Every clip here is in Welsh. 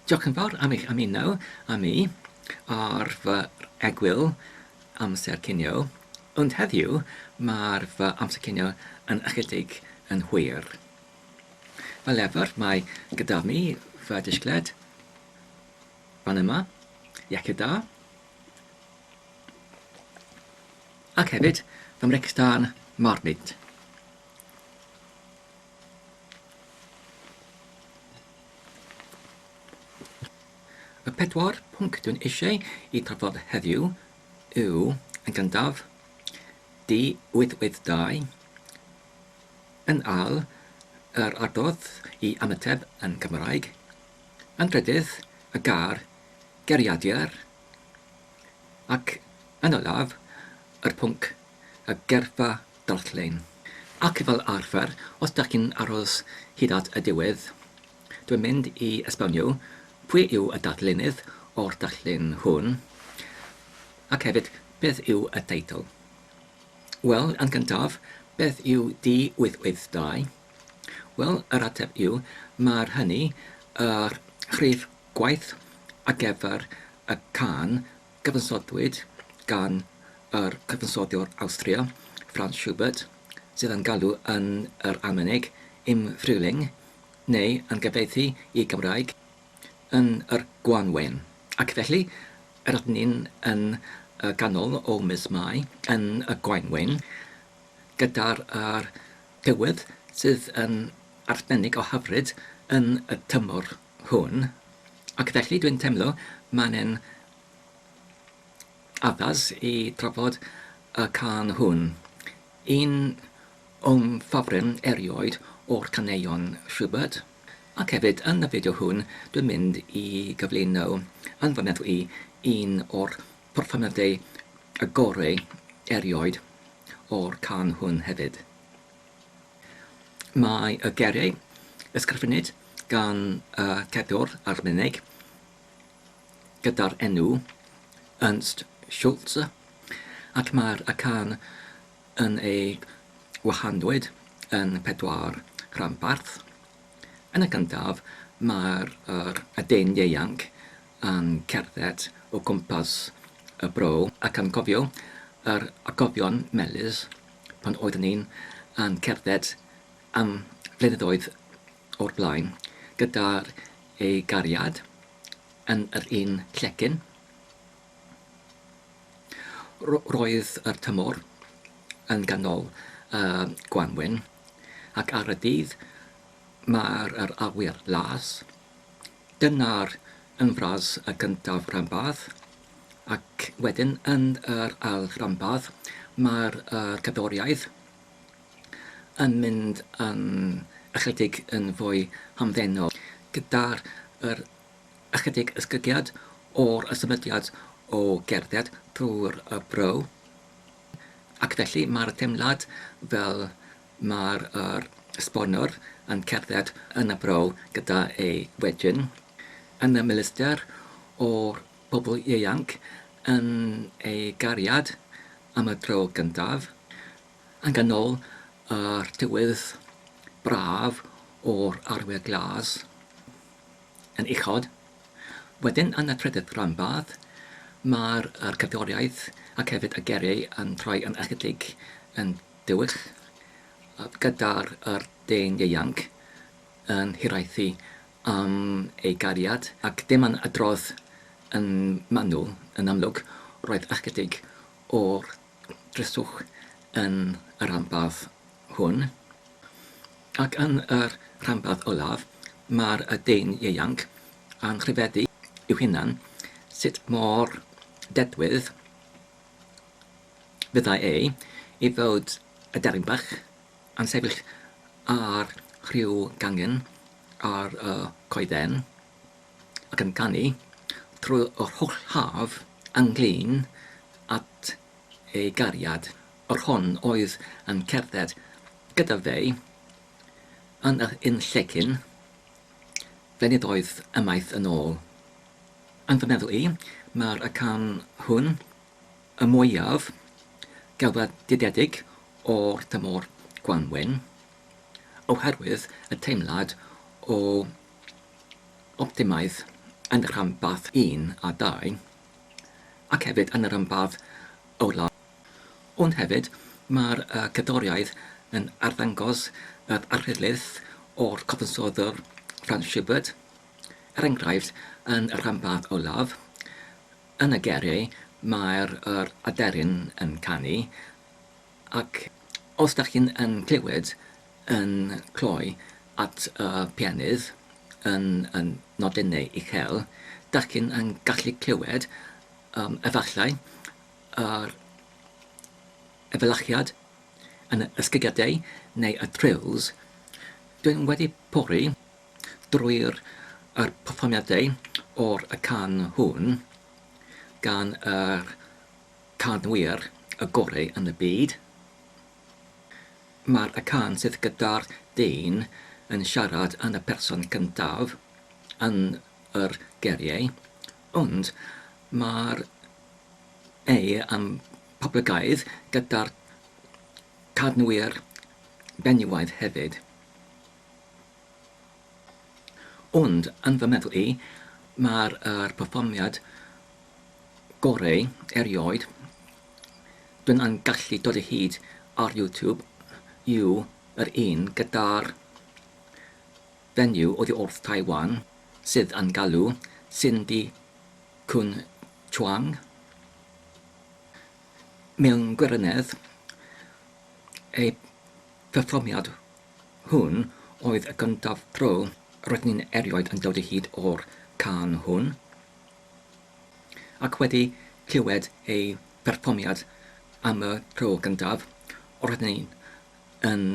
Diolch yn fawr am eich ymuno â mi ar fy egwyl amser cinio, ond heddiw mae'r fy amser cinio yn ychydig yn hwyr. Fel efer mae gyda mi fy disgled fan yma, iechyd da, ac hefyd fy mrecstân marmid. Y pedwar pwnc dwi'n eisiau eu trafod heddiw yw, yn gyntaf, D882, yn ail, yr adrodd i ymateb yn Gymraeg, yn drydydd, y gair 'geriadur', ac yn olaf, yr pwnc 'y gyrfa darllen. Ac fel arfer, os dach chi'n aros hyd at y diwedd, dwi'n mynd i esbonio pwy yw y darllenydd o'r darllen hwn, ac hefyd beth yw y teitl. Wel, yn gyntaf, beth yw D882? Wel, yr ateb yw, mae'r hynny yr rhif gwaith ar gyfer y cân Cyfansodwyd gan yr cyfansoddiwr Awstria, Franz Schubert, sydd â'n galw yn yr Almaenig im Frühling, neu yn gyfieithu i Gymraeg, yn yr gwanwyn. Ac felly, er ydyn ni yn y ganol o mis Mai, yn y gwanwyn, gyda'r tywydd sydd yn arbennig o hyfryd yn y tymor, hwn ac felly dwi'n teimlo mae e'n addas i drafod y cân hwn, un o'm ffafrim erioed o'r caneuon Schubert, ac hefyd yn y fideo hwn dwi'n mynd i gyflwyno yn fy meddwl i un o'r perfformiadau gorau erioed o'r cân hwn hefyd. Mae y geiriau ysgrifennid gan y cadwr Almaeneg gyda'r enw Ernst Schultz, ac mae'r acen yn ei wahanwyd yn pedwar rhanbarth. Yn y gyntaf, mae'r dyn ieuanc yn cerdded o gwmpas y bro ac yn cofio yr atgofion melys Pan oeddwn ni'n cerdded am flynyddoedd o'r blaen gyda'r ei gariad yn yr un llecyn, roedd yr tymor yn ganol y gwanwyn, ac ar y dydd mawr yr awyr las, Dyna'r un fras y gyntaf rhanbarth, ac wedyn yn yr ail ranbarth mae'r cerddoriaeth yn mynd yn ychydig yn fwy hamddenol, gyda ychydig esgygiad o'r symudiad o gerdded drwy'r bro, ac felly mae'r teimlad fel Mae'r esbonwr yn cerdded yn y bro gyda ei wegyn, yn y miluster o'r bobl ieuanc yn ei gariad am y tro gyntaf, yn ganol yr tywydd braf o'r arwyr glas yn uchod. Wedyn yn y trydydd ranbarth mae'r cerddoriaeth ac hefyd y gerrig yn troi yn ychydig yn Dewch gyda'r yr dyn ieuanc yn hiraethu am ei gariad, ac dim ond adrodd yn manwl, yn amlwg, roedd ychydig o'r dryswch yn y rhanbarth hwn. Ac yn yr rhanbarth olaf, mae'r y dyn ieuanc yn rhyfeddu i'w hunan sut mor dedwydd Fyddai ei fywyd y deryn bach yn sefyll ar ryw gangen ar y coeden ac yn canu trwy yr holl haf ynglŷn at ei gariad, yr hon oedd yn cerdded gyda fe yn yr un llecyn flynyddoedd ymaith yn ôl. Yn fy meddwl i, mae'r acen hwn y mwyaf gelfyddydedig o'r tymor gwanwyn, oherwydd y teimlad o optimaidd yn y rhanbarth un a dau, ac hefyd yn y rhanbarth olaf. Ond hefyd, mae'r cerddoriaeth yn arddangos yr arglwydd o'r cyfansoddwr Franz Schubert, Er enghraifft, yn y rhanbarth olaf, yn y gerri, mae'r yr aderyn yn canu, ac os dach chi'n yn clywed yn cloi at y pianydd yn y nodynau uchel, dach chi'n yn gallu clywed, yym, efallai, yr efelychiad yn y ysgigiadau neu y trills. Dw i'n wedi pori drwy'r yr perfformiadau o'r y can hwn gan yr canwyr y gorau yn y byd. Mae'r y can sydd gyda'r dyn yn siarad yn y person cyntaf yn yr geriau ond mae'r ei yn poblogaidd gyda'r canwyr benywaidd hefyd. Ond, yn fy meddwl i, mae'r perfformiad goreu erioed dw i'n gallu dod o hyd ar YouTube yw yr un gyda'r fenyw oddi wrth Taiwan sydd yn galw Cindy Cwn Chuang mewn gwirionedd ei pherfformiad Hwn oedd y gyntaf tro roedd ni'n erioed yn dod o hyd o'r cân hwn, ac wedi clywed ei pherfformiad am y tro gyntaf, roedd ni yn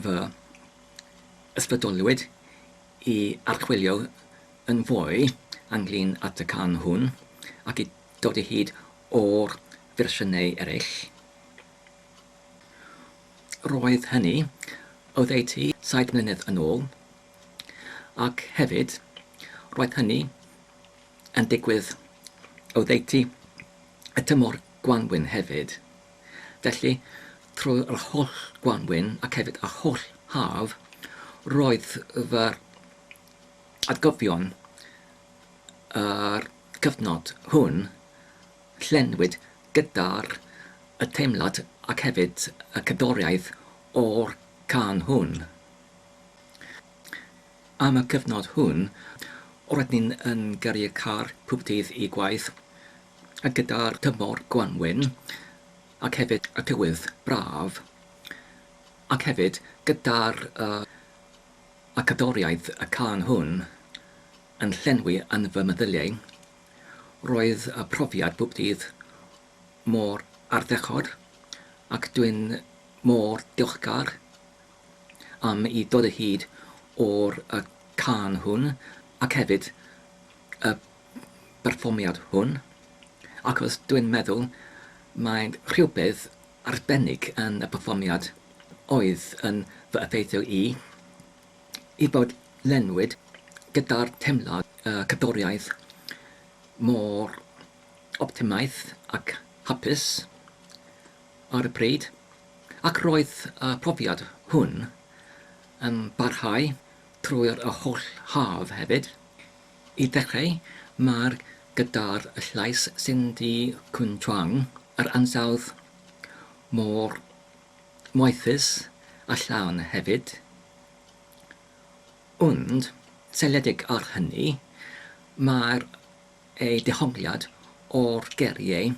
fy ysbrydolwyd i archwilio yn fwy ynglŷn at y cân hwn ac i dod o hyd o'r fersiynau eraill. Roedd hynny oddeutu saith mlynedd yn ôl, ac hefyd, roedd hynny yn digwydd oddeutu y tymor gwanwyn hefyd. Felly, trwy'r holl gwanwyn ac hefyd yr holl haf, roedd fy atgofion yr cyfnod hwn Llenwyd gyda'r y teimlad ac hefyd y cerddoriaeth o'r cân hwn. Am y cyfnod hwn, roedd ni yn gyrru car pob dydd i gwaith, a gyda'r tymor gwanwyn ac hefyd y tywydd braf, ac hefyd gyda'r y y cerddoriaeth y cân hwn yn llenwi yn fy meddyliau. Roedd y profiad bob dydd mor ardderchog ac dwi'n mor diolchgar am i dod o hyd o'r y cân hwn ac hefyd y berfformiad hwn achos dwi'n meddwl mae rhywbeth arbennig yn y perfformiad oedd yn fy effeithio i. ei bod lenwyd gyda'r teimlad y cadwriaeth mor optimaidd ac hapus ar y pryd, ac roedd y profiad hwn yn parhau trwy'r holl haf hefyd. I ddechrau, mae'r gitâr llais Cindy Kunchuang, yr ansawdd mor moethus a llawn hefyd. Ond, seiliedig ar hynny, mae'r ei dehongliad o'r geriau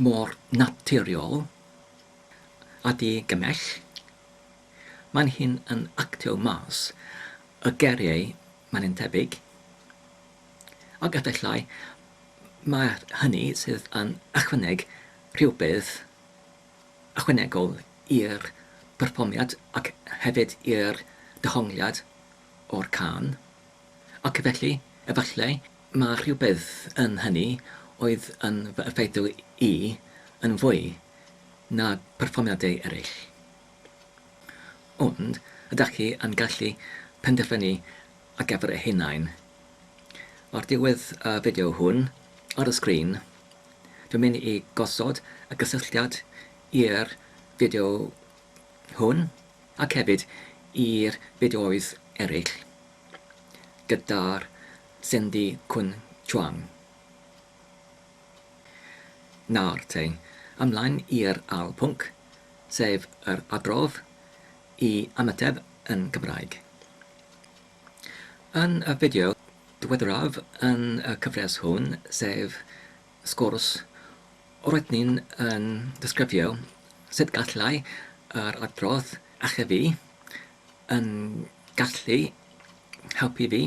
mor naturiol a di-gymell. Mae'n hyn yn actio mas y geriau mae'n un tebyg. Ac efallai mai hynny sydd yn ychwaneg rhywbeth ychwanegol i'r perfformiad ac hefyd i'r dehongliad o'r cân, ac felly, efallai, mae rhywbeth yn hynny oedd yn fy effeithio i yn fwy na pherfformiadau eraill. Ond ydach chi yn gallu penderfynu ar gyfer eich hunain? Ar ddiwedd y fideo hwn, ar y sgrin, Dwi'n mynd i gosod y gysylltiad i'r fideo hwn ac hefyd i'r fideoedd eraill gyda'r Cindy Cwn Chuang. Nawr te, ymlaen i'r ail pwnc, sef yr adrodd i ymateb yn Gymraeg. Yn y fideo ddiweddaraf yn y cyfres hwn, sef Sgwrs, roedd ni'n disgrifio sut gallai yr adrodd achub fi, yn gallu helpu fi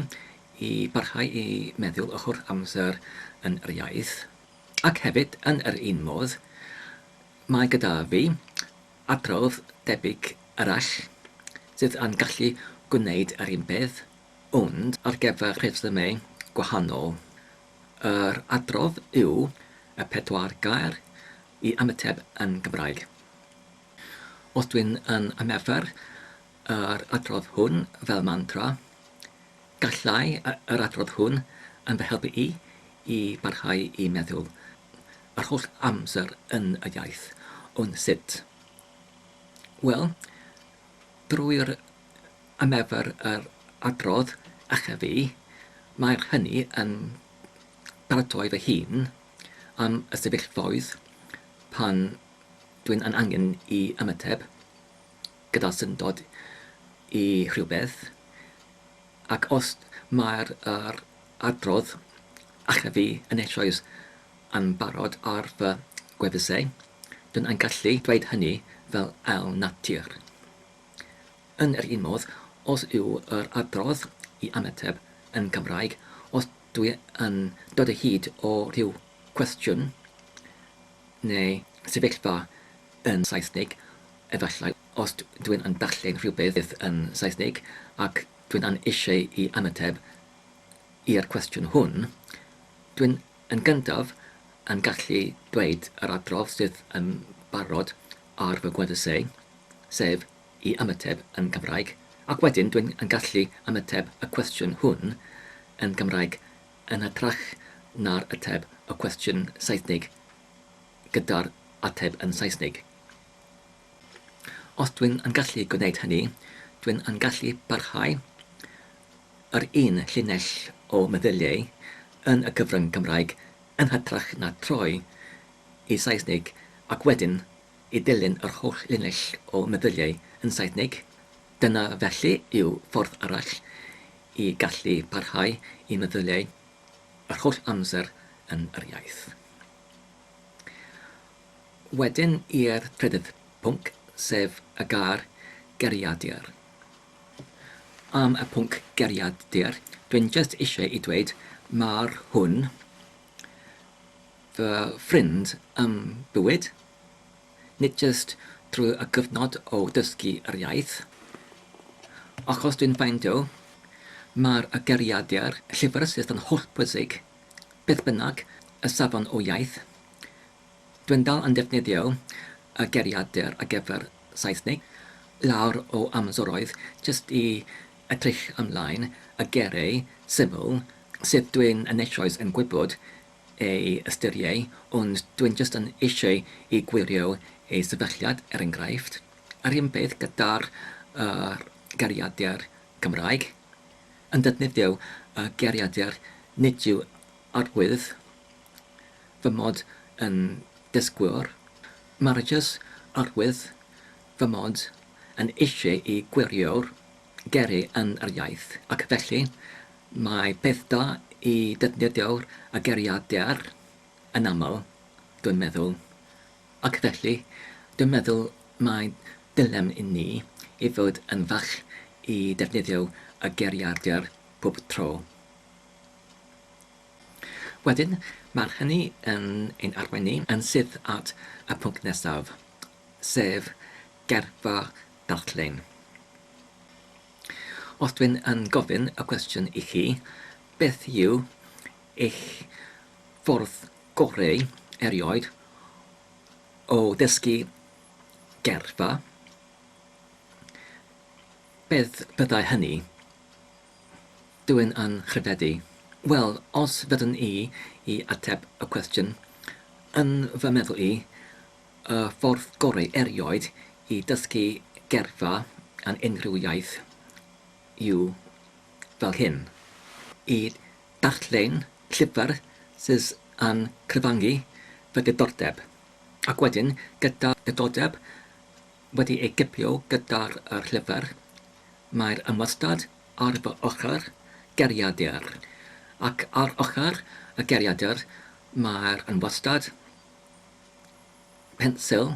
i barhau i meddwl ochr amser yn yr iaith, ac hefyd, yn yr un modd, mae gyda fi adrodd debyg arall sydd yn gallu gwneud yr un peth, Ond ar gyfer rhesymau gwahanol, yr adrodd yw y pedwar gair i ymateb yn Gymraeg. Os dwi'n yn ymarfer yr adrodd hwn fel mantra, gallai yr adrodd hwn yn fy helpu i i barhau i meddwl yr holl amser yn y iaith. Ond sut? Wel, drwy'r Am efo'r yr adrodd acha fi, mae'r hynny yn paratoi fy hun am y sefyllfaoedd pan dwi'n yn angen i ymateb gyda syndod i rhywbeth, ac os mae'r yr adrodd acha fi yn eisoes yn barod ar fy gwefusau, dwi'n yn gallu dweud hynny fel ail natur. Yn yr un modd, os yw yr adrodd i ymateb yn Gymraeg, os dwi yn dod o hyd o ryw gwestiwn neu sefyllfa yn Saesneg, efallai, os dwi yn darllen rhywbeth yn Saesneg ac dwi yn eisiau i ymateb i'r cwestiwn hwn, dwi yn gyntaf yn gallu dweud yr adrodd sydd yn barod ar fy gwefusau, sef i ymateb yn Gymraeg, ac wedyn dwi'n yn gallu ymateb y cwestiwn hwn yn Gymraeg yn hytrach na'r ateb y cwestiwn Saesnig gyda'r ateb yn Saesnig. Os dwi'n yn gallu gwneud hynny, dwi'n yn gallu parhau yr un llinell o meddyliau yn y cyfryng Gymraeg yn hytrach na troi y Saesneg ac wedyn i ddilyn yr holl linell o meddyliau yn Saesneg, dyna felly yw ffordd arall i gallu parhau i meddyliau yr holl amser yn yr iaith. Wedyn i'r trydydd pwnc, sef y gair 'gariadur'. Am y pwnc 'gariadur', dwi'n jyst eisiau i dweud, ma'r hwn fy ffrind ym bywyd, nid jyst trwy y cyfnod o dysgu yr iaith, achos dwi'n ffeindio mae'r geiriadur llifyrysys yn hollbwysig, beth bynnag y safon o iaith. Dwi'n dal yn defnyddio y geiriadur ar gyfer Saesneg lawr o amseroedd jyst i Edrych ymlaen a gyrru syml sydd dwin yn eisoes yn gwybod ei ystyrieu ond dwin jyst yn eisieu i gwirio ei sefylliad er engraifft. Yr un peth gyda'r yr geiriadur Cymraeg. Yn defnyddio y geiriadur nid yw arwydd fy mod yn dysgwr. Mae'r jyst arwydd fy mod yn eisiau i gwiriwr gyrru yn yr iaith, ac felly mae peth da i ddefnyddio'r ageriadur yn aml, dwi'n meddwl. Ac felly, dwi'n meddwl mai dylem i ni i fod yn fach i ddefnyddio ageriadur pob tro. Wedyn, mae'r hynny yn ein arwain ni yn syth at y pwnc nesaf. sef gyrfa darllen. Os dwi'n yn gofyn y cwestiwn i chi, beth yw eich ffordd goreu erioed o ddysgu gyrfa, beth fyddai hynny? Dwi'n yn nghredu. Wel, os fyddwn i i ateb y cwestiwn, yn fy meddwl i, Y ffordd gorau erioed i ddysgu geirfa yn unrhyw iaith yw fel hyn, i ddarllen llyfr sydd yn cyfangu fy diddordeb, ac wedyn, gyda diddordeb wedi ei gipio gyda'r llyfr, mae'r ymwastad ar fy ochr geiriadur, ac ar ochr y geiriadur mae'r ymwastad. pensil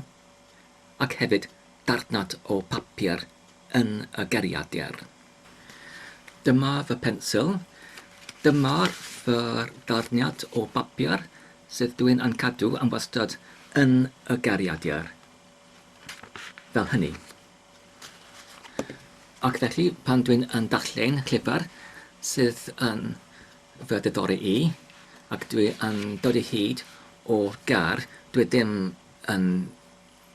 ac hefyd darnad o bapur yn y geiriadur. Dyma fy pensil, dyma fy darniad o bapur sydd dw i'n cadw am wastad yn y geiriadur, fel hynny. Ac felly, pan dwi'n yn darllen llyfr sydd yn fy diddori i, ac dwi yn dod o hyd o'r gair dwi ddim yn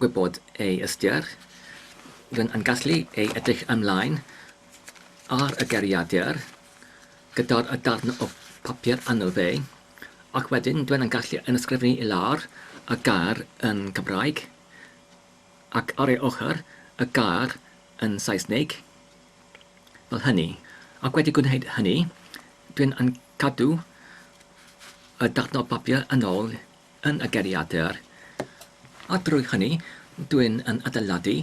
gwybod ei ystyr, rwy'n yn gallu ei edrych ymlaen ar y geiriadur gyda'r y darn o bapur arno fe, ac wedyn dwi yn gallu yn ysgrifennu i lawr y gair yn Cymraeg, ac ar ei ochr, y gair yn Saesneg, fel hynny, ac wedi gwneud hynny, dw i'n cadw y darnau papur yn ôl yn y geiriadur, a drwy hynny, dw i'n adeiladu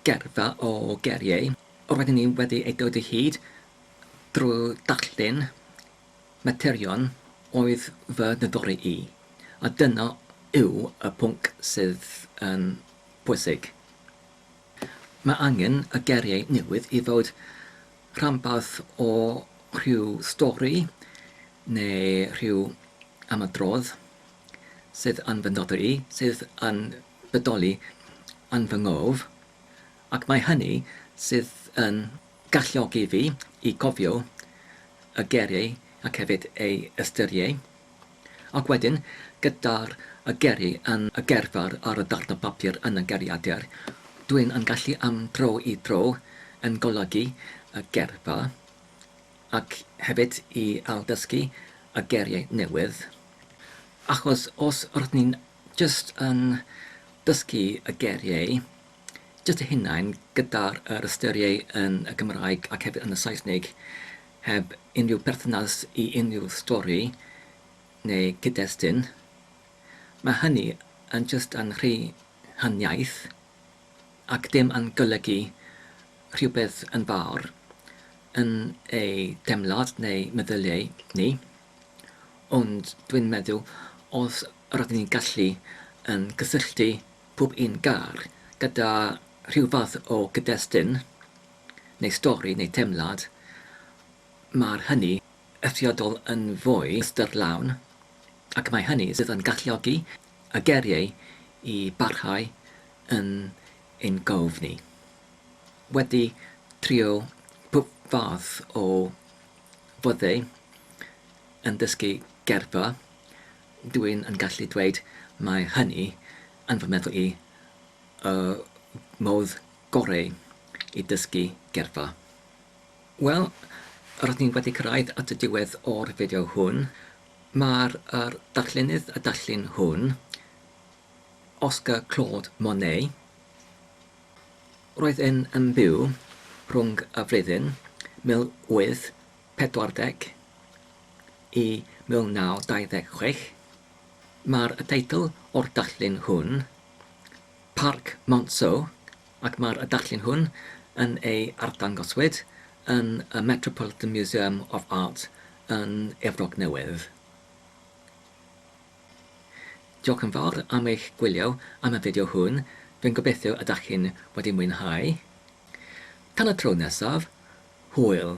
geirfa o geiriau roedden ni wedi eu dod o hyd drwy ddarllen materion oedd fy nhyddori i, a dyna yw y pwnc sydd yn bwysig. Mae angen y geiriau newydd i fod rhanbarth o rhyw stori neu rhyw ymadrodd sydd yn fy nodweddu, sydd yn bodoli yn fy ngof, ac mae hynny sydd yn galluogi fi i gofio y geiriau ac hefyd eu ystyrieu. Ac wedyn, gyda'r y geri yn y gerddor ar y darn o bapur yn y geriadur, dwi'n yn gallu am dro i dro yn golygu y gerdd-fa, ac hefyd i ailddysgu y geriau newydd. Achos os rydyn ni'n jyst yn dysgu y geriau jyst eu hunain gyda'r yr ystyriau yn y Gymraeg ac hefyd yn y Saesnig, Heb unrhyw berthynas i unrhyw stori neu gyd-destun, mae hynny yn jyst yn rhy huniaith ac dim yn golygu rhywbeth yn fawr yn ei deimlad neu meddyliau ni. Ond dwi'n meddwl os rydyn ni'n gallu yn cysylltu pob un gair gyda rhyw fath o gyd-destun, neu stori neu deimlad, mae'r hynny eithriadol yn fwy ystyrlawn ac mae hynny sydd yn galluogi y geiriau i barhau yn ein gof ni. Wedi trio pob fath o foddau yn dysgu geirfa, dw i'n yn gallu dweud mae hynny yn fy meddwl i y modd goreu i dysgu gerddfa. Wel, rydyn ni wedi cyrraedd at y diwedd o'r fideo hwn. Mae'r yr darllenydd a darllun hwn, Oscar Claude Monet, roedd yn yn byw rhwng y flwyddyn 1840 i 1926. Mae'r teitl o'r darllun hwn, Parc Monceau ac mae'r adarllen hwn yn ei arddangoswyd yn y Metropolitan Museum of Art yn Efrog Newydd. Diolch yn fawr am eich gwylio am y fideo hwn, rwy'n gobeithio ydach chi'n wedi mwynhau. Tan y tro nesaf, hwyl!